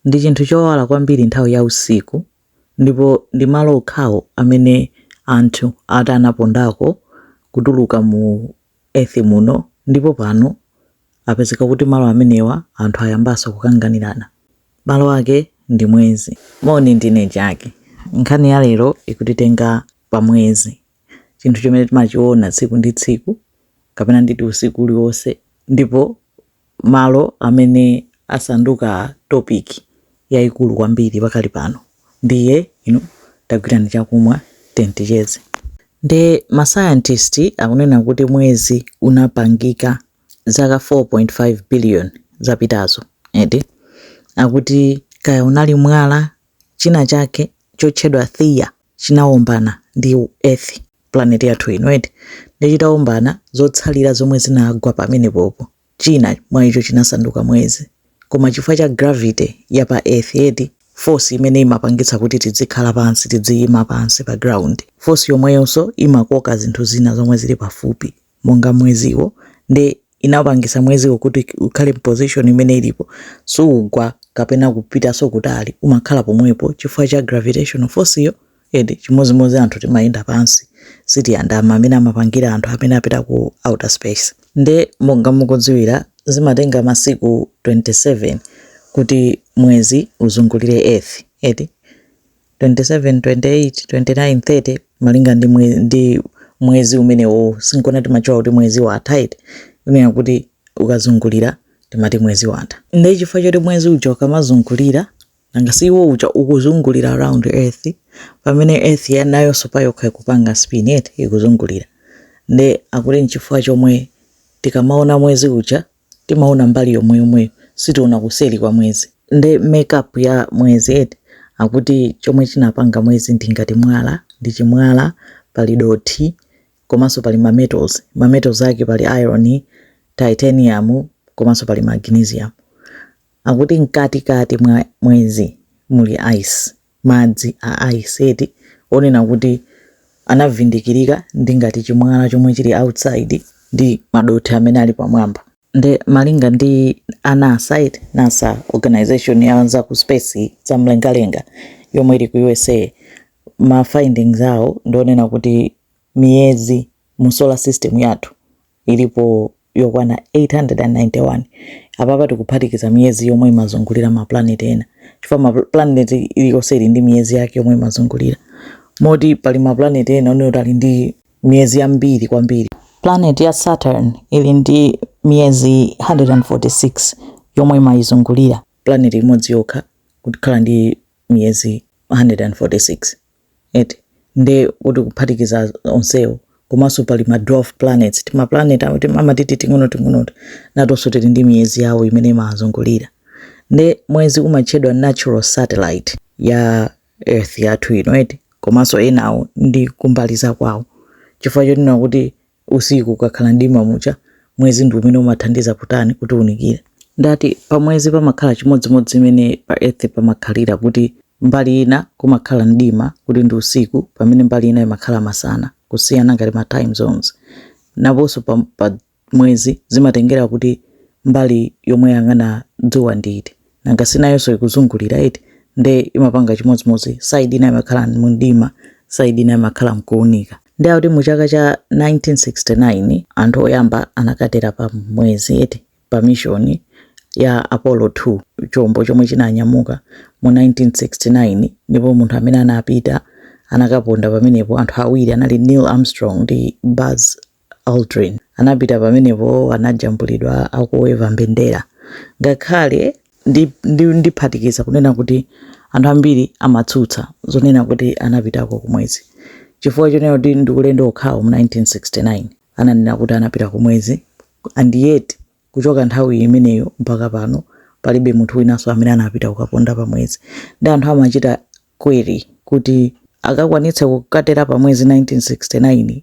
Ndi chinthu chowala kwambiri nthawi ya usiku, ndipo ndi malo okhawo amene anthu ati anapondako kutuluka mu earth muno, ndipo pano apezeka kuti malo amenewa anthu ayambanso kukanganirana. Malo ake ndi mwezi. Moni, ndine Jackie. Nkhani ya lero ikutitenga pa mwezi. chinthu chomwe timachiona tsiku ndi tsiku kapena nditi usiku uliwonse ndipo malo amene asanduka topic yaikulu kwambiri pakali pano ndiye ino tagwirani chakumwa tendicheze nde masayantisti akunena kuti mwezi unapangika zaka 4.5 billion zapitazo eti akuti kaya unali mwala china chake chotchedwa Theia chinawombana ndi earth planet yathu ino eti nde chitawombana zotsalira zomwe zinagwa pamenepopo china mwa icho chinasanduka mwezi koma chifukwa cha gravity ya pa earth eti force imene imapangitsa kuti tidzikhala pansi tidziyima pansi pa ground force yomweyonso imakoka zinthu zina zomwe zili pafupi monga mweziwo nde inapangisa mweziwo kuti ukhale position imene ilipo suugwa kapena kupitaso kutali umakhala pomwepo chifukwa cha gravitational force yo eti chimozimozi anthu timayenda pansi sitiyandama mmene amapangira anthu amene apita ku outer space nde monga mukudziwira zimatenga masiku 27 kuti mwezi uzungulire earth eti 27 28 29 30 malinga ndi mwe, ndi mwezi umenewo sinkona timatchula kuti mwezi watha eti kunena kuti ukazungulira timati mwezi watha ndiye chifukwa choti mwezi uja ukamazungulira nanga si iwo uja ukuzungulira around earth pamene earth ya nayonso payokha ikupanga spin eti ikuzungulira nde akuti nchifukwa chomwe tikamaona mwezi uja timaona mbali yomweyomweyo sitiona kuseri kwa mwezi. nde make up ya mwezi eti? akuti chomwe chinapanga mwezi ndi ngati mwala, ndi chimwala, pali dothi komanso pali ma metals, ma metals ake pali iron, titanium komanso pali magnesium. akuti mkatikati mwa mwezi muli ice. madzi a ice eti kunena kuti anavindikirika ndi ngati chimwala chomwe chili outside ndi madothi amene ali pamwamba nde malinga ndi a nasa eti nasa organization ya za ku space za mlengalenga yomwe ili ku usa ma findings awo ndi onena kuti miyezi mu solar system yathu ilipo yokwana 891 apapa tikuphatikiza miyezi yomwe imazungulira maplaneti ena chifukwa maplaneti iliyonse ili ndi miyezi yake yomwe imazungulira moti pali maplaneti ena onena kuti ali ndi miyezi yambiri kwambiri planet ya saturn ili ndi miyezi 146 yomwe imayizungulira planeti imodzi yokha kukhala ndi miyezi 146 eti nde kuti kuphatikiza onsewo komanso pali ma dwarf planets tima planet amatiti ting'ono ting'onoto natonso tili ndi miyezi yawo imene imawazungulira nde mwezi umatchedwa natural satellite ya earth yathu ino eti komanso enawo ndi kumbali za kwawo chifukwa chonena kuti usiku ukakhala mdima muja mwezi ndi umene umathandiza kutani kutiunikira nde ati pa mwezi pamakhala chimodzimodzi mmene pa earth pamakhalira kuti mbali ina kumakhala mdima kuti ndi usiku pamene mbali ina imakhala masana kusiyana ngati ma time zones naponso pa, pa mwezi zimatengera kuti mbali yomwe yang'ana dzuwa ndi iti nanga si nayonso ikuzungulira eti nde imapanga chimodzimodzi side ina imakhala mumdima side ina imakhala mkuunika nde akuti mu chaka cha 1969 anthu oyamba anakatera pa mwezi eti pa mishoni ya apollo 2 chombo chomwe chinanyamuka mu 1969 ndipo munthu amene anapita anakaponda pamenepo anthu awiri anali neil armstrong ndi buzz Aldrin. Anapita pamenepo, anajambulidwa akuweva mbendera. Ngakhale ndi, ndi, ndiphatikiza kunena kuti anthu ambiri amatsutsa zonena kuti anapitako kumwezi chifukwa chonena kuti ndi ulendo okhawo mu 1969 ananena kuti anapita kumwezi and yet kuchoka nthawi imeneyo mpaka pano palibe munthu winanso amene anapita kukaponda pa mwezi nde anthu amachita query kuti akakwanitsa kukatera pa mwezi 1969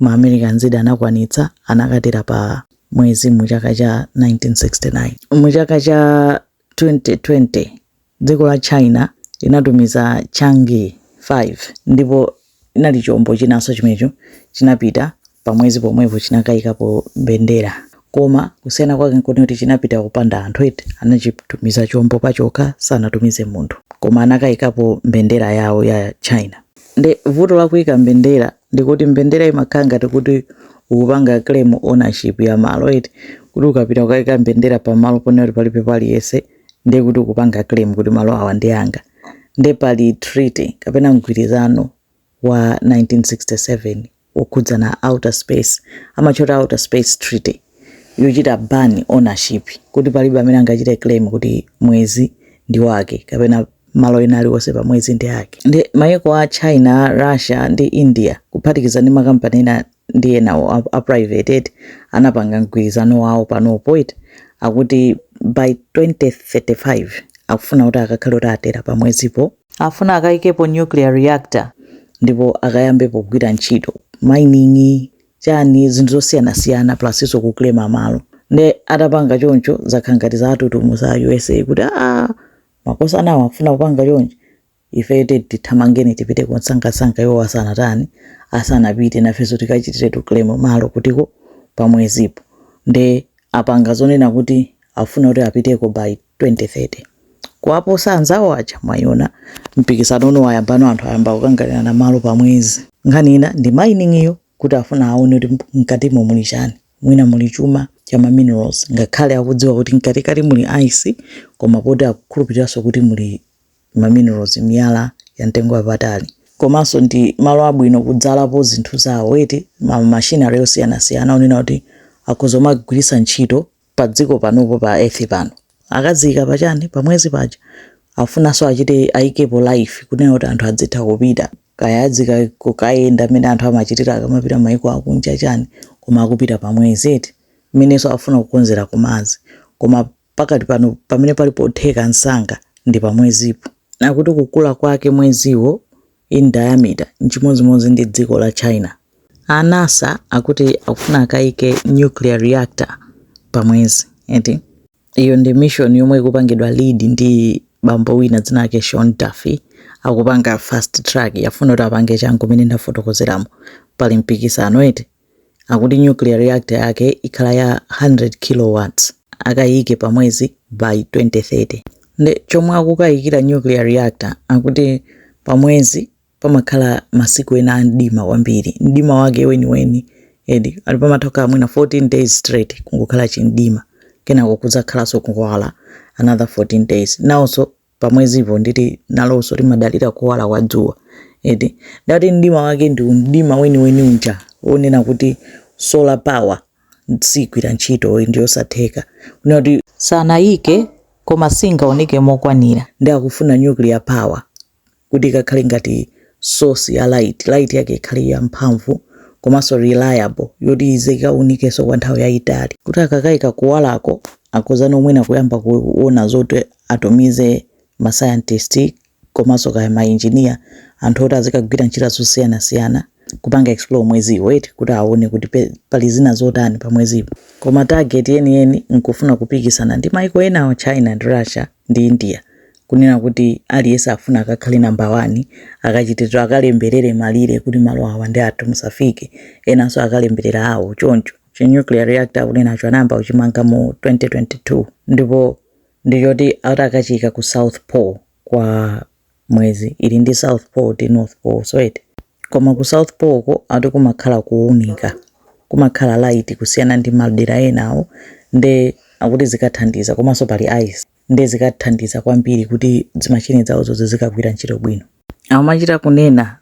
ma Americans eti anakwanitsa anakatera pa mwezi mu chaka cha 1969 mu chaka cha 2020 dziko la China inatumiza Chang'e 5 ndipo inali chombo chinanso chimenecho chinapita pa mwezi pomwepo chinakayikapo mbendera koma kusiyana kwake nkuti kuti chinapita kupanda anthu eti anachitumiza chombo pachokha sanatumize munthu koma anakayikapo mbendera yawo ya China nde vuto la kuyika mbendera ndikuti mbendera imakhala ngati kuti ukupanga claim ownership ya malo eti kuti ukapita ukaika mbendera pamalo ponena kuti palibepo aliyense ndiye kuti ukupanga claim kuti malo awa ndi anga nde pali treaty kapena mgwirizano wa 1967 wokhudza za outer space amautchula outer space treaty yochita ban ownership kuti palibe amene angachite claim kuti mwezi ndi wake kapena malo ena aliwonse pa mwezi ndi ake. Ndi maiko a China, Russia ndi India kuphatikiza ndi makampani ena ndi enawo a, a private eti anapanga mgwirizano wawo panopo eti akuti by 2035 akufuna kuti akakhale kuti atera pa mwezipo afuna akayikepo nuclear reactor ndipo akayambepo kugwira ntchito mining chani zinthu zosiyanasiyana plusinso kuclaima malo nde atapanga choncho zakhala ngati zawatutumutsa a USA kuti aa makosanawo akufuna kupanga chonchi ifeyo tiyeni tithamange tipiteko msangamsanga iwo asanatani asanapite nafenso tikachitire tiklaime malo kuti pamwezipo nde apanga zonena kuti afuna kuti apiteko by 2030 kuwaposa anzawo aja mwaiona mpikisanowo wayambano anthu ayamba kukanganirana malo pamwezi nkhani ina ndi mining iyo kuti afuna aone kuti mkatimo muli chani mwina muli chuma cha ma minerals ngakhale akudziwa kuti mkatikati muli ice komabe akukhulupiriranso kuti muli ma minerals miyala ya mtengo wapatali komanso ndi malo abwino kudzalapo zinthu zawo eti ma machinery osiyanasiyana onena kuti akhoza kumagwiritsa ntchito pa dziko panopo pa earth pano akaziika pachani pamwezi paja afunanso achite aikepo life kunena kuti anthu azitha kupita kaya azikayenda mmene anthu amachitira akamapita maiko akunja chani koma akupita pamwezi eti mmenenso afuna kukonzera ku Mars koma pakati pano pamene pali potheka msanga ndi pamwezipo akuti kukula kwake mweziwo in diameter nchimodzimodzi ndi dziko la China. A NASA akuti akufuna akaike nuclear reactor pa mwezi eti. Iyo ndi mission yomwe ikupangidwa lead ndi bambo wina dzina lake Sean Duffy. Akupanga fast track afuna kuti apange changu mene ndafotokozeramo. Pali mpikisano eti. akuti nuclear reactor yake ikhala ya 100 kilowatts akayike pa mwezi by 2030 nde chomwe akukayikira nuclear reactor akuti pa mwezi pamakhala masiku ena a mdima kwambiri mdima wake weniweni eti akuti pamatenga mwina 14 days straight kungokhala chimdima kenako kudzakhalanso kuwala another 14 days nawonso pamwezipo ndiye kuti nalonso limadalira kuwala kwa dzuwa eti nde akuti mdima wake ndi mdima weniweni uja wonena kuti solar power sigwira ntchito ndi yosatheka kunena kuti sangayike koma singaoneke mokwanira nde akufuna nuclear power kuti ikakhale ngati source ya light, light yake ikhale ya mphamvu komanso reliable yoti izikaunikanso kwa nthawi yayitali kuti akakaika kuwalako akhozano mwina kuyamba kuona zoti atumize ma scientist komanso kaya ma engineer anthu oti azikagwira ntchito zosiyanasiyana kupanga explore mweziwo eti kuti aone kuti pe- pali zina zotani pa mwezipo koma target yeniyeni nkufuna kupikisana ndi maiko enawo china ndi russia ndi india kunena kuti aliyense akufuna akakhale namba wani akachititso akalemberere malire kuti malo awa ndi athu musafike enanso akalemberere awo choncho chi nuclear reactor akunenacho anayamba kuchimanga mu 2022 ndipo ndichoti ati akachiyika ku south pole kwa mwezi ili ndi south pole ndi north pole so eti koma ku south pole ko ati kumakhala kuunika kumakhala light kusiyana ndi madera enawo nde akuti zikathandiza komanso pali ice nde zikathandiza kwambiri kuti zimachine zawozo zizikagwira ntchito bwino amachita kunena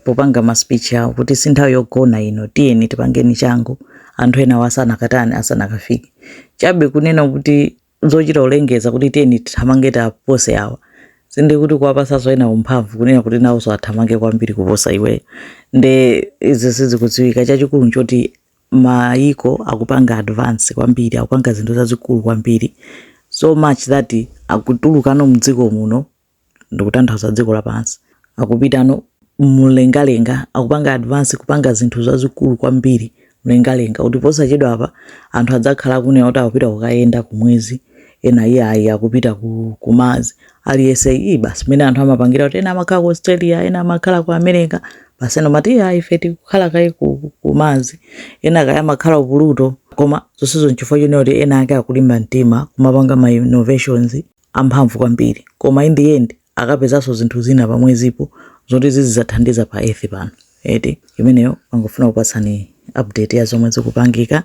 popanga ma speech awo kuti si nthawi yogona ino tiyeni tipangeni changu anthu enawo asanakatani asanakafike chabe kunena kuti zochita kulengeza kuti tiyeni tithamange tapose awa sinde kuti kuwapatsanso ena mphamvu kunena kuti nawonso athamange kwambiri kuposa iweyo nde izi sizikudziwika chachikulu nchoti mayiko akupanga advance kwambiri akupanga zinthu zazikulu kwambiri so much that akutulukano mdziko muno ndikutanthauza dziko lapansi akupitano mlengalenga akupanga advance kupanga zinthu zazikulu kwambiri mlengalenga kuti posachedwa apa anthu adzakhala akunena kuti akupita kukayenda kumwezi ena iye ayi akupita ku, ku Mars aliyense iyi basi mmene anthu amapangira kuti ena amakhala ku australia ena amakhala ku america basi ena amati iya ife tikukhala kaye ku, ku- ku Mars ena kaya amakhala ku pluto koma zonsezo nchifukwa chonena kuti ena ake akulimba mtima kumapanga ma innovations amphamvu kwambiri koma in the end akapezanso zinthu zina pa mwezipo zoti zizizathandiza pa earth pano eti imeneyo nangofuna kupatsani update ya zomwe zikupangika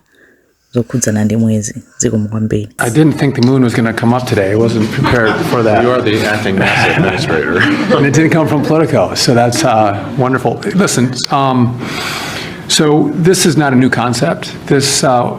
zokhudzana ndi mwezi zikomo kwambiri I didn't think the moon was going to come up today. I wasn't prepared for that. You are the acting NASA administrator. and it didn't come from Politico, so that's uh, wonderful. Listen, um, so this is not a new concept. This uh,